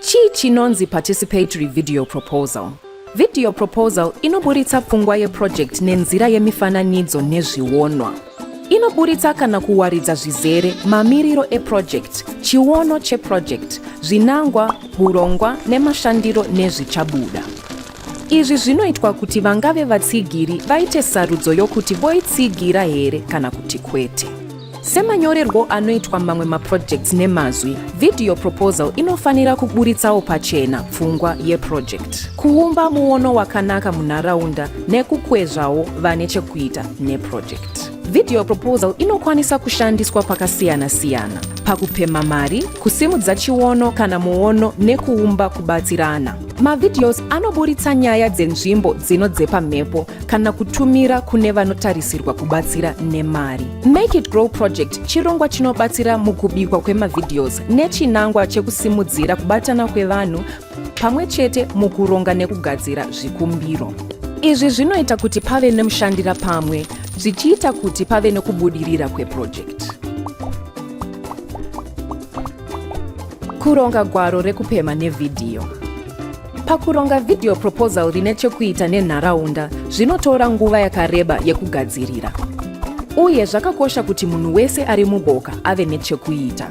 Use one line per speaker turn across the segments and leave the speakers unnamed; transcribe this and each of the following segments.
Chii chinonzi participatory video proposal? Video proposal inoburitsa pfungwa yeproject nenzira yemifananidzo nezvionwa. Inoburitsa kana kuwaridza zvizere mamiriro eproject, chiono cheproject, zvinangwa, hurongwa nemashandiro nezvichabuda. Izvi zvinoitwa kuti vangave vatsigiri vaite sarudzo yokuti voitsigira here kana kuti kwete. Semanyorerwo anoitwa mamwe maprojects nemazwi, video proposal inofanira kuburitsawo pachena pfungwa yeproject, kuumba muono wakanaka munharaunda nekukwezvawo vane chekuita neproject. Video proposal inokwanisa kushandiswa pakasiyana-siyana pakupemha mari, kusimudza chiono kana muono nekuumba kubatsirana. Mavideos anoburitsa nyaya dzenzvimbo dzinodzepa mhepo kana kutumira kune vanotarisirwa kubatsira nemari. Make It Grow Project chirongwa chinobatsira mukubikwa kwemavideos nechinangwa chekusimudzira kubatana kwevanhu pamwe chete mukuronga nekugadzira zvikumbiro. Izvi zvinoita kuti pave nemushandira pamwe zvichiita kuti pave nekubudirira kwepurojekiti. Kuronga gwaro rekupemha nevhidhiyo. Pakuronga video proposal rine chekuita nenharaunda, zvinotora nguva yakareba yekugadzirira. Uye zvakakosha kuti munhu wese ari muboka ave nechekuita.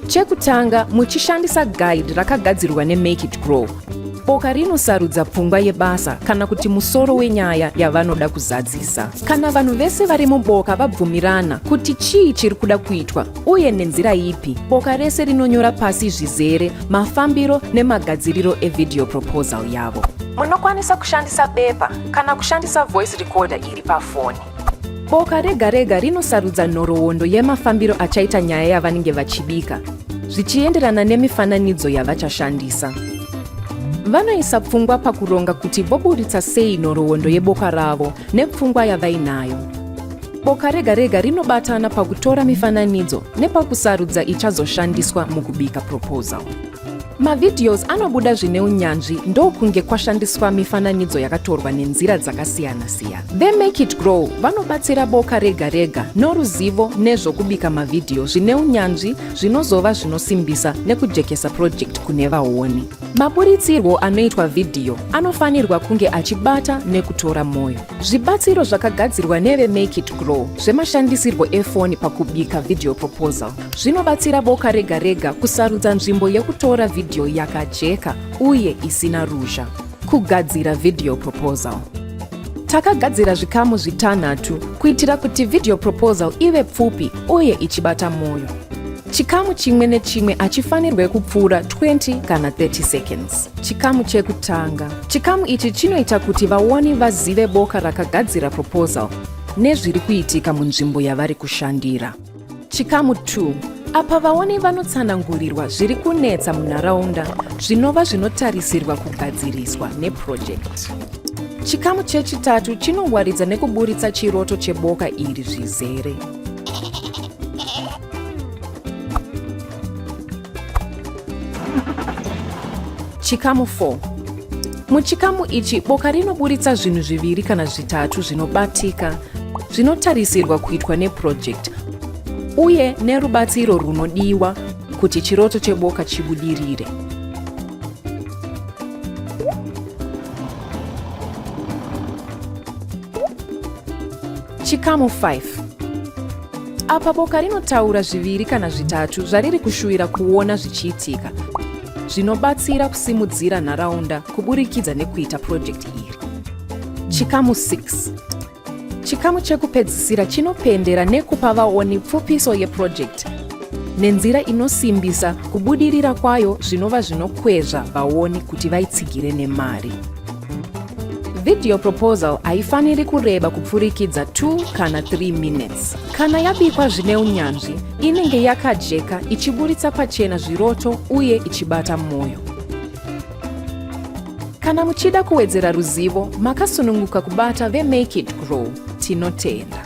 Chekutanga, muchishandisa guide rakagadzirwa neMake It Grow, Boka rinosarudza pfungwa yebasa kana kuti musoro wenyaya yavanoda kuzadzisa. Kana vanhu vese vari muboka vabvumirana kuti chii chiri kuda kuitwa uye nenzira ipi, boka rese rinonyora pasi zvizere mafambiro nemagadziriro evideo proposal yavo. Munokwanisa kushandisa bepa kana kushandisa voice recorder iri pafoni. Boka rega rega rinosarudza nhoroondo yemafambiro achaita nyaya yavanenge vachibika zvichienderana nemifananidzo yavachashandisa. Vanoisa pfungwa pakuronga kuti voburitsa sei nhoroondo yeboka ravo nepfungwa yavainayo. Boka rega rega rinobatana pakutora mifananidzo nepakusarudza ichazoshandiswa mukubika proposal. Mavideos anobuda zvine unyanzvi ndokunge kwashandiswa mifananidzo yakatorwa nenzira dzakasiyana-siyana. VeMake It Grow vanobatsira boka rega rega noruzivo nezvokubika mavhidhiyo zvine unyanzvi zvinozova zvinosimbisa nekujekesa purojekiti kune vaoni. Maburitsirwo anoitwa vhidhiyo anofanirwa kunge achibata nekutora mwoyo. Zvibatsiro zvakagadzirwa neveMake It Grow zvemashandisirwo efoni pakubika video proposal Zvinobatsira boka rega rega kusarudza nzvimbo yekutora vhidhiyo yakajeka uye isina ruzha. Kugadzira video proposal. Takagadzira zvikamu zvitanhatu kuitira kuti video proposal ive pfupi uye ichibata mwoyo. Chikamu chimwe nechimwe hachifanirwe kupfuura 20 kana 30 seconds. Chikamu chekutanga. Chikamu ichi chinoita kuti vaoni vazive boka rakagadzira proposal nezviri kuitika munzvimbo yavari kushandira. Chikamu 2 apa vaoni vanotsanangurirwa zviri kunetsa munharaunda zvinova zvinotarisirwa kugadziriswa nepurojekiti. Chikamu chechitatu chinowaridza nekuburitsa chiroto cheboka iri zvizere. Chikamu 4 Muchikamu ichi boka rinoburitsa zvinhu zviviri kana zvitatu zvinobatika zvinotarisirwa kuitwa neprojekti uye nerubatsiro rwunodiwa kuti chiroto cheboka chibudirire. Chikamu 5 apa boka rinotaura zviviri kana zvitatu zvariri kushuvira kuona zvichiitika zvinobatsira kusimudzira nharaunda kuburikidza nekuita purojekiti iri chikamu 6 chikamu chekupedzisira chinopendera nekupa vaoni pfupiso yepurojekiti nenzira inosimbisa kubudirira kwayo zvinova zvinokwezva vaoni kuti vaitsigire nemari. Video proposal haifaniri kureba kupfurikidza 2 kana 3 minutes. Kana yabikwa zvine unyanzvi, inenge yakajeka ichiburitsa pachena zviroto uye ichibata mwoyo. Kana muchida kuwedzera ruzivo, makasununguka kubata veMake It Grow. Tinotenda.